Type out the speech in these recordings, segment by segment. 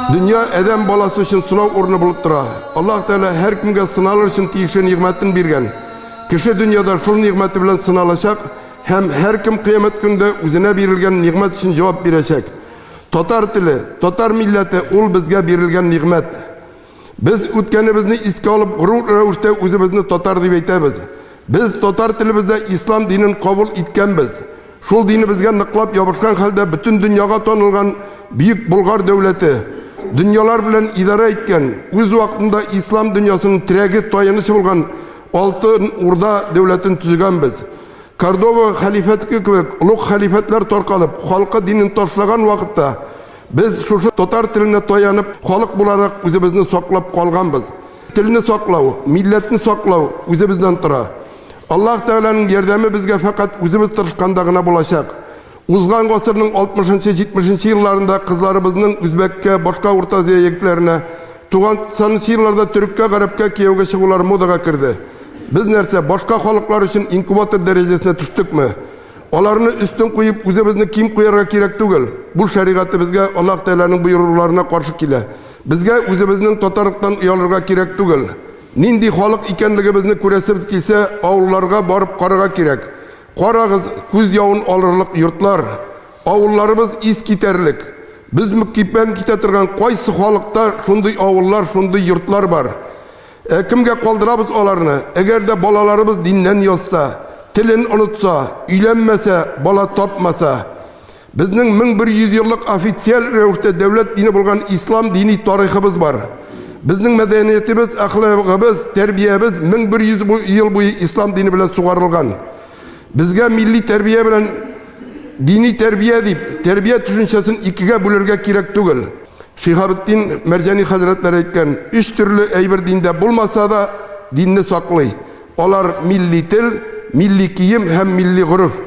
Дөнья әдәм баласы өчен сынау урыны булып тора. Аллаһ Тәгалә һәркемгә сыналыр өчен тиешле нигъмәтен биргән. Кеше дөньяда шул нигъмәте белән сыналачак һәм һәркем кыямәт көндә үзенә бирелгән нигъмәт өчен җавап бирәчәк. Татар теле, татар милләте ул безгә бирелгән нигъмәт. Без үткәнебезне искә алып горур рәвештә үзебезне татар дип әйтәбез. Без татар телебездә ислам динен кабул иткәнбез. Шул динебезгә ныклап ябышкан хәлдә бөтен дөньяга танылган Бөек Болгар дәүләте, дөньялар белән идарә иткән, үз вакытында ислам дөньясының терәге, таянычы булган Алтын Урда дәүләтен төзегәнбез. Кордова хәлифәтке кебек олуг хәлифәтләр таркалып, халкы динен ташлаган вакытта, Без шушы татар теленә таянып, халык буларак үзебезне саклап калганбыз. Телне саклау, милләтне саклау үзебездән тора. Аллаһ Тәгаләнең ярдәме безгә фәкать үзебез тырышканда гына булачак. Узган гасырның 60-70 елларында кызларыбызның үзбәккә, башка Урта Азия егетләренә, 90 елларда төреккә, гарәпкә кияүгә чыгулары модага керде. Без нәрсә, башка халыклар өчен инкубатор дәрәҗәсенә төштекме? Аларны өстен куеп, үзебезне ким куярга кирәк түгел. Бу шәригатебезгә, Аллаһ Тәгаләнең боеруларына каршы килә. Безгә үзебезнең татарлыктан оялырга кирәк түгел. Нинди халык икәнлегебезне күрәсебез килсә, авылларга барып карарга кирәк. Карагыз, күз явын алырлык йортлар, авылларыбыз искитәрлек. Бөзмөккипән китә торган кайсы халыкта шундый авыллар, шундый йортлар бар? Ә кемгә калдырабыз аларны? Әгәр дә балаларыбыз диннән язса, телен онытса, өйләнмәсә, бала тапмаса, безнең 1100 еллык официаль рәвештә дәүләт дине булган ислам дини тарихыбыз бар. Безнең мәдәниятебез, әхлагыбыз, тәрбиябез 1100 ел буе ислам дине белән сугарылган. Безгә милли тәрбия белән дини тәрбия дип, тәрбия төшенчәсен икегә бүлергә кирәк түгел. Шиһабетдин Мәрҗани хәзрәтләре әйткән, өч төрле әйбер диндә булмаса да, динне саклый. Алар милли тел, милли кием һәм милли гореф.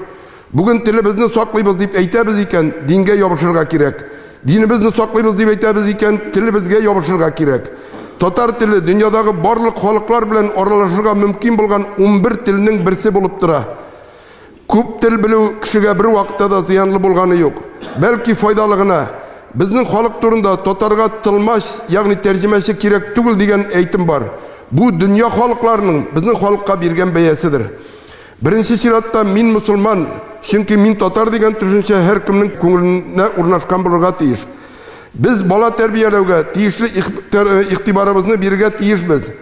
Бүген телебезне саклыйбыз дип әйтәбез икән, дингә ябышырга кирәк. Динебезне саклыйбыз дип әйтәбез икән, телебезгә ябышырга кирәк. Татар теле дөньядагы барлык халыклар белән аралашырга мөмкин булган унбер телнең берсе булып тора. Күп тел белү кешегә бер вакытта да зыянлы булганы юк. Бәлки файдалы гына. Безнең халык турында татарга тылмач, ягъни тәрҗемәче кирәк түгел дигән әйтем бар. Бу дөнья халыкларының безнең халыкка биргән бәяседер. Беренче чиратта мин мөселман, чөнки мин татар дигән төшенчә һәркемнең күңеленә урнашкан булырга тиеш. Без бала тәрбияләүгә тиешле игътибарыбызны бирергә тиешбез.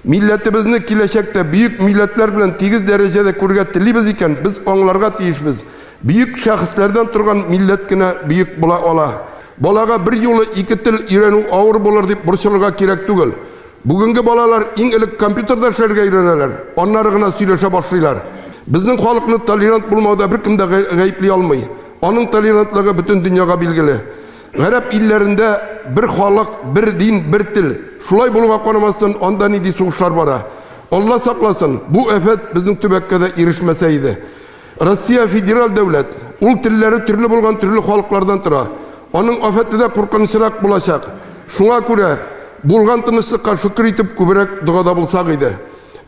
Милләтебезне киләчәктә бөек милләтләр белән тигез дәрәҗәдә күрергә телибез икән, без аңларга тиешбез, бөек шәхесләрдән торган милләт кенә бөек була ала. Балага берьюлы ике тел өйрәнү авыр булыр дип борчылырга кирәк түгел. Бүгенге балалар иң элек компьютерда эшләргә өйрәнәләр, аннары гына сөйләшә башлыйлар. Безнең халыкны толерант булмауда беркем дә гаепли алмый. Аның толерантлыгы бөтен дөньяга билгеле. Гарәп илләрендә бер халык, бер дин, бер тел. Шулай булуга карамастан, анда нинди сугышлар бара. Алла сакласын, бу афәт безнең төбәккә дә ирешмәсә иде. Россия федераль дәүләт. Ул телләре төрле булган төрле халыклардан тора. Аның афәте дә куркынычрак булачак. Шуңа күрә булган тынычлыкка шөкер итеп күбрәк догада булсак иде.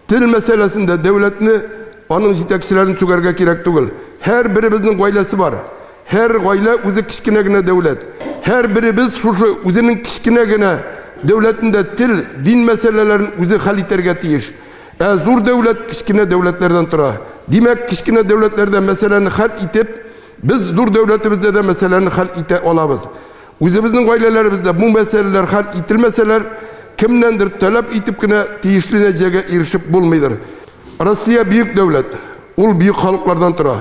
Тел мәсьәләсендә дәүләтне, аның җитәкчеләрен сүгәргә кирәк түгел. Һәр беребезнең гаиләсе бар. Һәр гаилә үзе кечкенә генә дәүләт. Һәр беребез шушы үзенең кечкенә генә дәүләтендә тел, дин мәсьәләләрен үзе хәл итәргә тиеш. Ә зур дәүләт кечкенә дәүләтләрдән тора. Димәк, кечкенә дәүләтләрдә мәсьәләне хәл итеп, без зур дәүләтебездә дә мәсьәләне хәл итә алабыз. Үзебезнең гаиләләребездә бу мәсьәләләр хәл ителмәсәләр, кемнәндер таләп итеп кенә тиешле нәтиҗәгә ирешеп булмыйдыр. Россия бөек дәүләт, ул бөек халыклардан тора.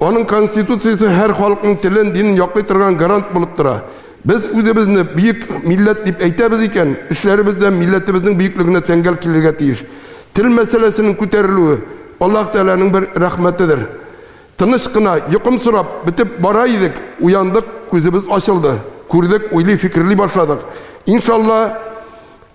Аның конституциясе һәр халыкның телен, динен яклый торган гарант булып тора. Без үзебезне бөек милләт дип әйтәбез икән, эшләребез дә милләтебезнең бөеклегенә тәңгәл килергә тиеш. Тел мәсьәләсенең күтәрелүе, Аллаһ Тәгаләнең бер рәхмәтедер. Тыныч кына, йокымсырап, бетеп бара идек, уяндык, күзебез ачылды. Күрдек, уйлый, фикерли башладык. Иншалла.